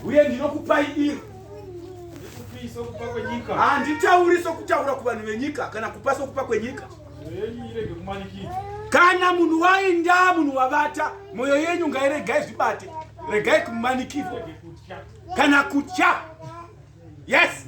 uye ndinokupai iro handitauri sokutaura kuvanhu venyika kana kupa sokupa kwenyika kana munhu wainda munhu wavata mwoyo yenyu ngairegai zvibate regai kumanikirwa kana kutya yes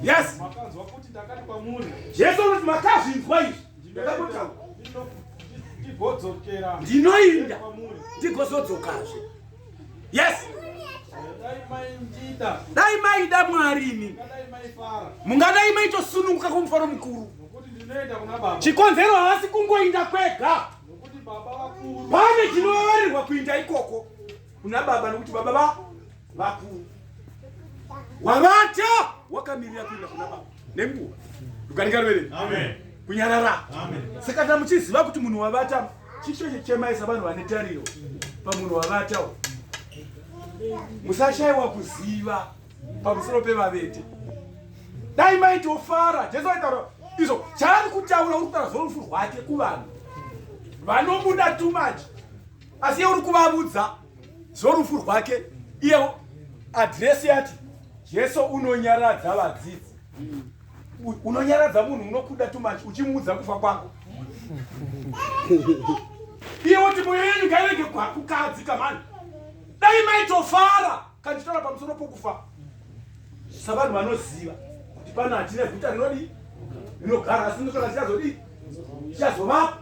yes makanzwa kuti ndakati kwamuri jesu anoti makazvinzwa izvi ndakakotaura ndigodzokera ndinoinda ndigozodzokazve yes dai maida mwari imi mungadai maitosununguka kumufaro mukuru chikonzero havasi kungoinda kwega pane chinovavarirwa kuinda ikoko kuna baba nokuti baba va vakuru wavata wakamirira kuenda kuna baba nenguva rukarikaruverei kunyarara saka kana muchiziva kuti munhu wavata chicho chechemaisa vanhu vane tariro pamunhu wavatawo musashaiwa kuziva pamusoro pevavete dai maitofara jesu aitaura izvo chaari kutaura uri kutaura zvorufu rwake kuvanhu vanomuda too much asi yeuri kuvavudza zvorufu rwake iye adresi yati jesu unonyaradza vadzidzi unonyaradza munhu unokuda tumachi uchimuudza kufa kwako iye woti moyo yenyu ngairege kukadzi kamani dai maitofara kanditora pamusoro pokufa savanhu vanoziva kuti pano hatina guta rinodii rinogara asi ndokana tichazodii tichazovapo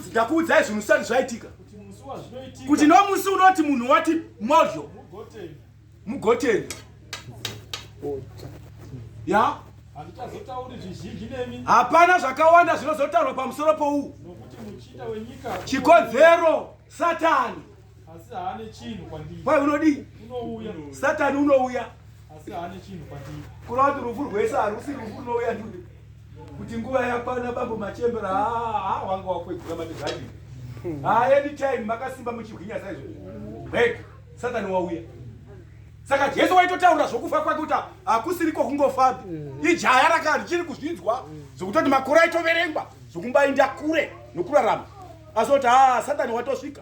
ndakuudzai zvinhu zvisati zvaitika kuti nomusi unoti munhu wati mozho mugoteni ya hapana zvakawanda zvinozotaurwa pamusoro pouwu chikonzero satani Asi haane chinhu kwandiri. Kwai unodii? Unouya. Satani unouya. Asi haane chinhu kwandiri. Kuna kuti rufu rwese harusi rufu runouya ndude. Kuti nguva yakwana bambo machembera haa haa wanga wakwegura matezani. Hmm. Haa anytime makasimba muchigwinya saizvo. Break. Satani wauya. Saka Jesu waitotaura zvokufa kwake kuti hakusiriko kungofapi. Hmm. Ijaya rakari chiri kuzvinzwa hmm. zvokutoti makore aitoverengwa zvokumbainda kure nokurarama. Asi kuti haa Satani watosvika.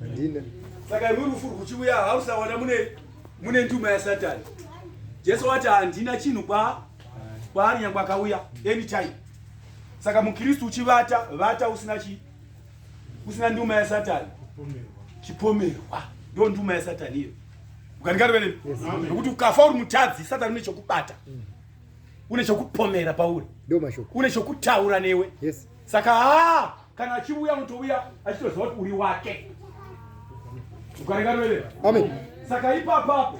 handina saka imwe rufu rwuchiuya hausawana mune mune nduma yasatani jesu wati handina chinhu kwa kwaari nyangwe akauya anytime saka mukristu uchivata vata usina chi usina nduma yasatani chipomerwa ndo nduma yasatani iyo ukandikarivenei nokuti ukafa uri mutadzi satani une chokubata mm. une chokupomera pauri une chokutaura newe saka haa kana achiuya unotouya achitoziva kuti uri wake ukarengaroerera amen saka ipapapo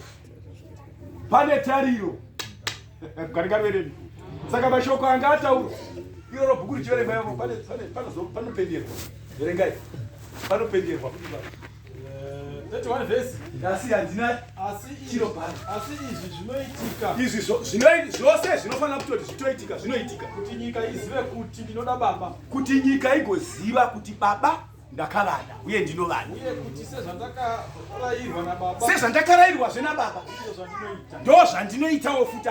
pane tariro ukarengaroerera saka mashoko anga ataura iroro bhuku richiverengwa yavo panopenderwa verengai panopenderwa kuti izvi zvose zvinofanira kutoti zvitoitika zvinoitika kuti nyika izive kuti ndinoda baba kuti nyika igoziva kuti baba ndakavada uye ndinovada sezvandakarayirwazve nababa ndo zvandinoitawo futi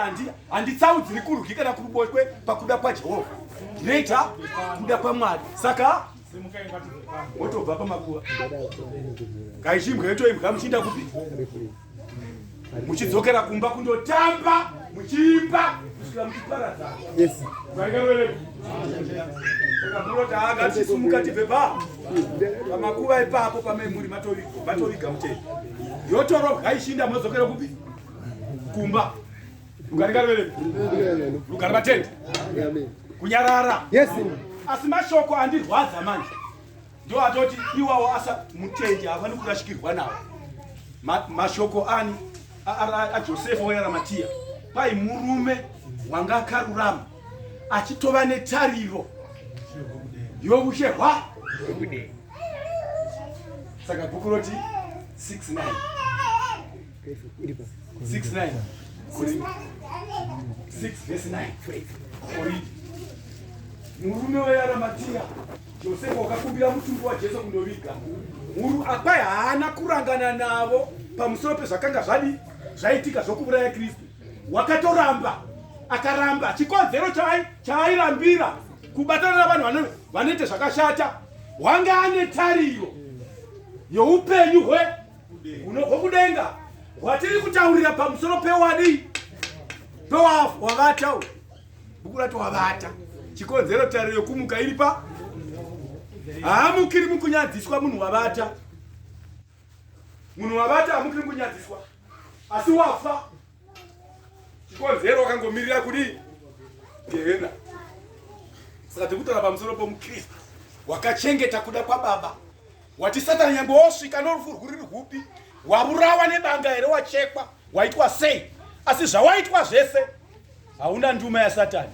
handitsaudziri kurwi kana kuruboshwe pakuda kwajehovha ndinoita kuda kwamwari saka wotobva pamakuva kaichimbwa yotoimbwa muchiinda kupi muchidzokera kumba kundotamba muchiimba kusvika muchiparadza takamurotaanga tichisumuka tibve pa pamakuva ipapo pamemuri matoviga mutei yotorobwa ichinda modzokera kupi kumba Rugare ngaruve Rugare vatende. Kunyarara. Yes. Asi mashoko andirwadza manje. Ndio atoti iwawo asa mutendi havani kurashikirwa nawo. Ma, mashoko ani a Joseph oyara Matia. Pai murume wanga akarurama achitova netariro yokushehwa saka bhuku roti 69 murume wearamatia josefa wakakumbira mutumbi wajesu kundoviga mhuru apai haana kurangana navo pamusoro pezvakanga zvadi zvaitika zvokuuraya kristu wakatoramba akaramba chikonzero chaairambira kubatana navanhu vanoita zvakashata wange ane tariro youpenyu hwe unobva kudenga watiri kutaurira pamusoro pewadi pewavata bhuku rato wavata chikonzero tariro yokumuka iri pa haamukiri mukunyadziswa munhu wavata munhu wavata haamukiri mukunyadziswa asi wafa chikonzero wakangomirira kudii gehena saka tikutaura pamusoro pomukristu wakachengeta kuda kwababa wati satani nyangwe wosvika norufu rwuri rwupi wavurawa nebanga here wachekwa waitwa sei asi zvawaitwa zvese hauna nduma yasatani